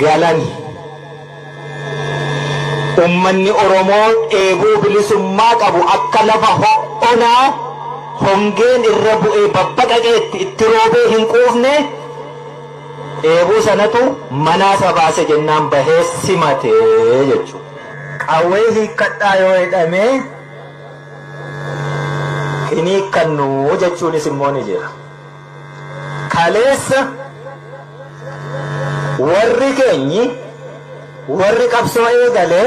galan ummanni Oromoo dheebuu bilisummaa qabu akka lafa ho'onaa hongeen irra bu'ee babbaqaqeetti itti roobee hin quufne dheebuu sanatu manaa isa baase jennaan bahee simate jechuudha. Qawwee hiikkadhaa yoo jedhamee hin hiikkannu jechuunis immoo ni jira. Kaleessa warri keenyi warri qabsoo eegale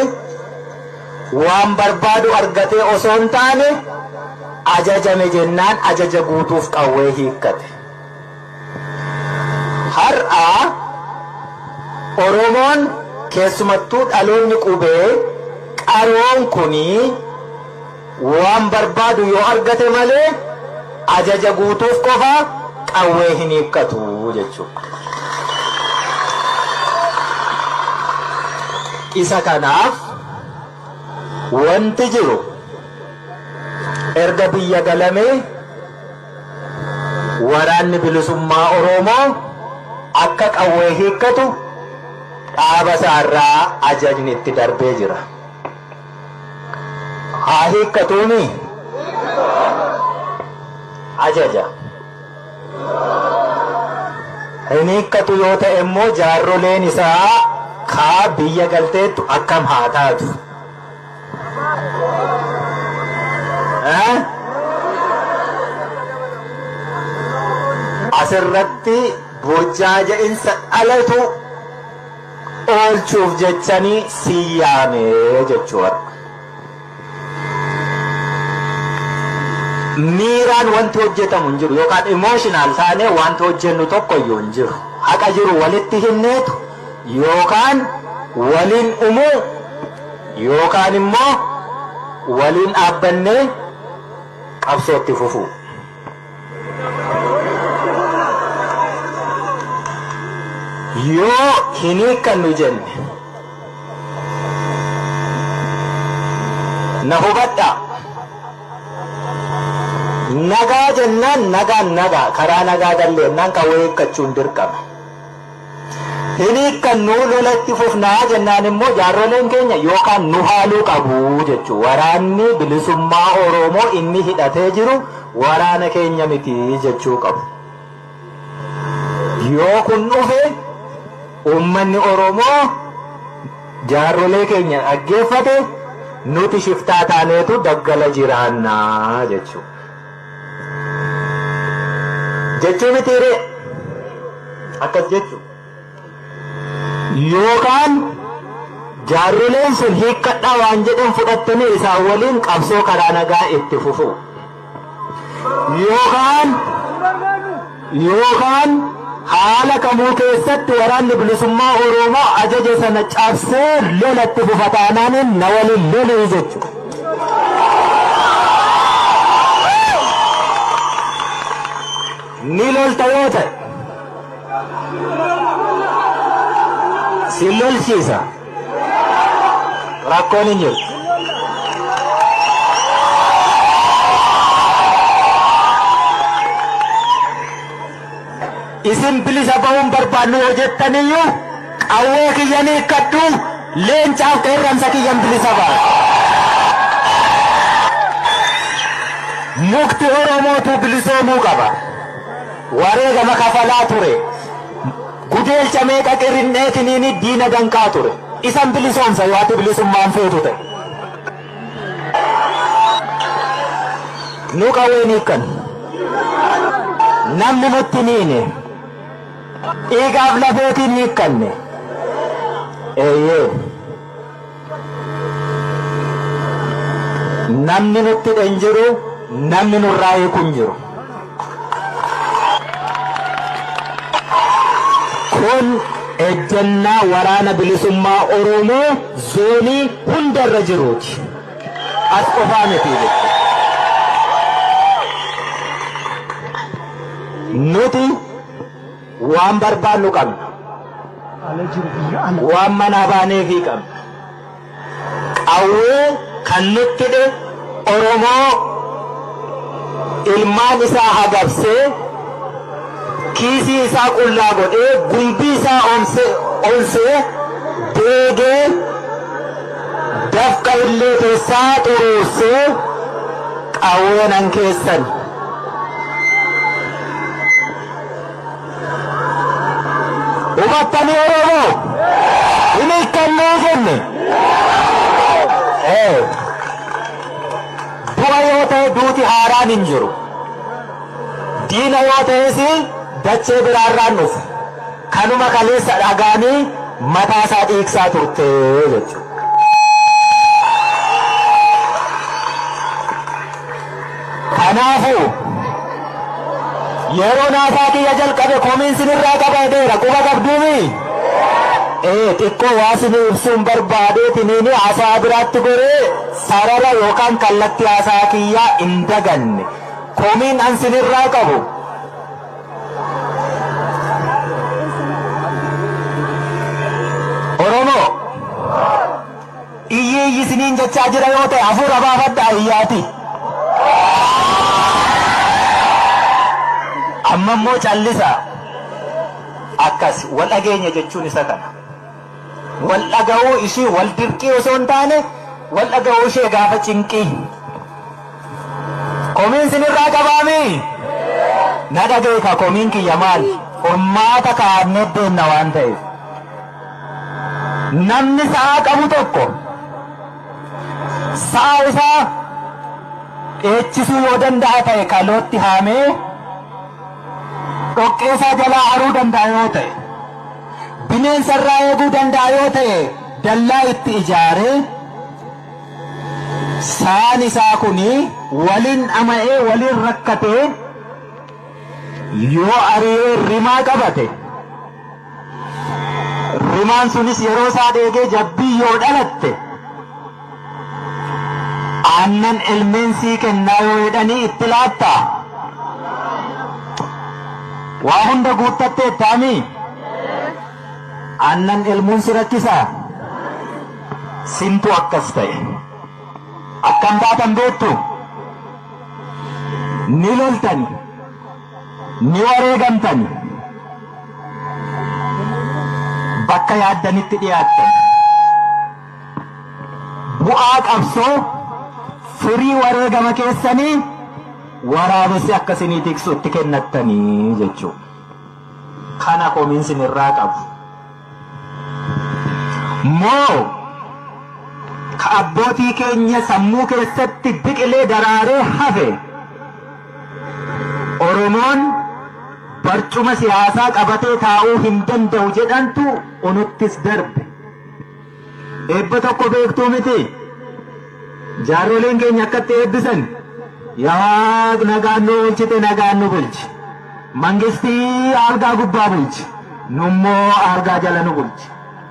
waan barbaadu argatee osoo hin taane ajajame jennaan ajaja guutuuf qawwee hiikkate. Har'a Oromoon keessumattuu dhaloonni qubee qaroon kuni Waan barbaadu yoo argate malee ajaja guutuuf qofa qawwee hin hiikkatu jechuudha. Isa kanaaf wanti jiru erga biyya galamee waraanni bilisummaa Oromoo akka qawwee hiikkatu dhaaba isaarraa ajajni itti darbee jira. haa hiikkatuuni ajaja. Hin hiikkatu yoo ta'e immoo jaarroleen isaa kaa biyya galteettu akkam haa taatu? Eh? Asirratti burjaaja'insa dhalatu oolchuuf jechani si yaame jechuu warra. Miiraan wanti hojjetamu hin jiru yookaan emotional taanee wanti hojjennu tokko iyyuu hin jiru. Haqa jiru walitti himneetu yookaan waliin umuu yookaan immoo waliin dhaabbannee qabsootti fufuu. yoo hin hiikkannu jenne na hubadhaa nagaa jennaan nagaan nagaa karaa nagaa galle jennaan qawwee hiikkachuun dirqama hin hiikkannuu lola itti fufnaa jennaan immoo jaarroleen keenya yookaan nu haaluu qabu jechuu waraanni bilisummaa Oromoo inni hidhatee jiru waraana keenya miti jechuu qabu. Yoo kun dhufe uummanni Oromoo jaarrolee keenya dhaggeeffate nuti shiftaa taaneetu daggala jiraannaa jechuu. jechuu mitii ree akkas jechu yookaan jaarroleen sun hiikkadhaa waan jedhan fudhattanii isaan waliin qabsoo karaa nagaa itti fufuu yookaan yookaan haala kamuu keessatti Waraanni Bilisummaa Oroomoo ajaja sana cabsee lola itti fufa taanaan na waliin lolii jechuudha. Ni lolta yoo ta'e si lolchiisa. Rakkoon hin jiru. Isin bilisa ba'uun barbaannu yoo jettaniyyuu qawwee kiyya ni hiikkadhu leencaaf qeerransa kiyyan bilisa ba'a. Mukti Oromootu bilisoomuu qaba. Wareegama kafalaa ture. Gudeelcha meeqa qirrin'eetiniini diina danqaa ture. Isan bilisoomsa yoo ati bilisummaan feetu ta'e. Nu qawween hiikkan. Namni nutti hin hiine. Dhiigaaf lafeetiin hiikkanne. Eeyyee. Namni nutti hidhe hin jiru, namni nurraa hiiku hin jiru. Kun ejjennaa waraana bilisummaa Oromoo zoonii hunda irra jiruuti. As qofaa miti jechuudha. Nuti Waan barbaannu qabna. Waan manaa baaneefii qabna. Qawwee kan nutti hidhe Oromoo ilmaan isaa hagabsee, kiisii isaa qullaa godhee, gumbii isaa onsee, deegee, dafqa illee keessaa xuruursee qawweenan keessan. Hubattanii Oromoo? Hin hiikkannee jenne. Ee. Du'a yoo ta'e duuti haaraan hin jiru. Diina yoo ta'es dachee biraarraan dhufe. Kanuma kaleessa dhagaanii mataa isaa dhiigsaa turte jechuudha. Kanaafuu, yeroon haasaa kiyya jalqabe komiin sinirraa qabaadeera. Quba qabduumii? Ee, xiqqoo waa sinii ibsuun barbaadeetiniini haasaa biraatti goree sarara yookaan kallattii haasaa kiyyaa hin daganne. Komiin an sinirraa qabu. Oromoo! Iyyi iyyi isiniin jechaa jira yoo ta'e hafuura baafadhaa iyyaati. Amma immoo callisa. Akkas wal dhageenya jechuun isa kana. Wal dhaga'uu ishii wal dirqii osoo hin taane wal dhaga'uu ishee gaafa cinqii. Komiin isinirraa qabaamii? Na dhageeka komiin kiyya maal? Furmaata kaa'annee deemna waan ta'eef. Namni sa'a qabu tokko sa'a isaa dheechisuu yoo danda'a ta'e kalootti haamee dhoqqee isaa jalaa haruu danda'a yoo ta'e bineensa irraa eeguu danda'a yoo ta'e dallaa itti ijaaree saan isaa kuni waliin dhama'ee waliin rakkatee yoo ari'ee rimaa qabate. Rimaan sunis yeroo isaa deegee jabbii yoo dhalatte aannan elmeen sii kennaa yoo jedhanii itti laattaa? Waa hunda guuttattee taamii? Aannan elmuun si rakkisaa? Sintu akkas ta'e. Akkam taatan beektu? Ni loltani. Ni wareegamtani. Bakka yaaddanitti dhiyaattan. Bu'aa qabsoo firii wareegama keessanii waraabessi akka isinii tiksu itti kennattanii jechuu. Kana komiin sinirraa qabu. Moo ka abbootii keenya sammuu keessatti biqilee daraaree hafe Oromoon barcuma siyaasaa qabatee taa'uu hin danda'u jedhantu unuttis darbe. Eebba tokko beektuu miti. Jaarroliin keenya akkatti eebbisan yaa waaq nagaan nu oolchite nagaan nu bulchi. Mangistii aalgaa gubbaa bulchi. Nummoo aalgaa jala nu bulchi.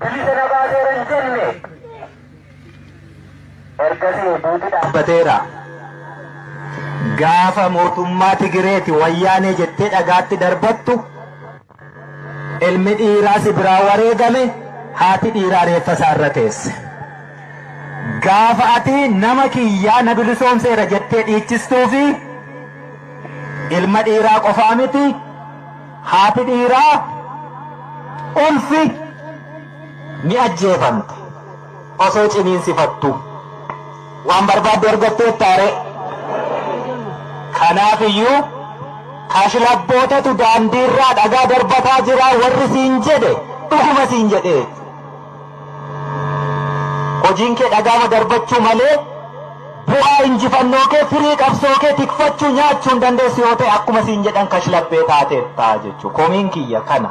Bilisa na baaseera hin jenne. Ergasii duuti dhaabbateera. Gaafa mootummaa Tigireeti wayyaanee jettee dhagaatti darbattu ilmi dhiiraa si biraa wareegame haati dhiiraa reeffa isaa irra teesse. Gaafa ati nama kiyyaa na bilisoomseera jettee dhiichistuu fi ilma dhiiraa qofaa miti Haati dhiiraa ulfi ni ajjeefamti osoo ciniinsifattu. Waan barbaaddu argatteettaaree? Kanaaf iyyuu kashlabbootatu daandiirraa dhagaa darbataa jira warri siin jedhe dhuguma siin jedhee. Hojiin kee dhagaama darbachuu malee bu'aa injifannoo kee firii qabsoo kee tikfachuu nyaachuu hin dandeessu yoo ta'e akkuma siin jedhan kashlabbee taateetta jechuu komiin kiyya kana.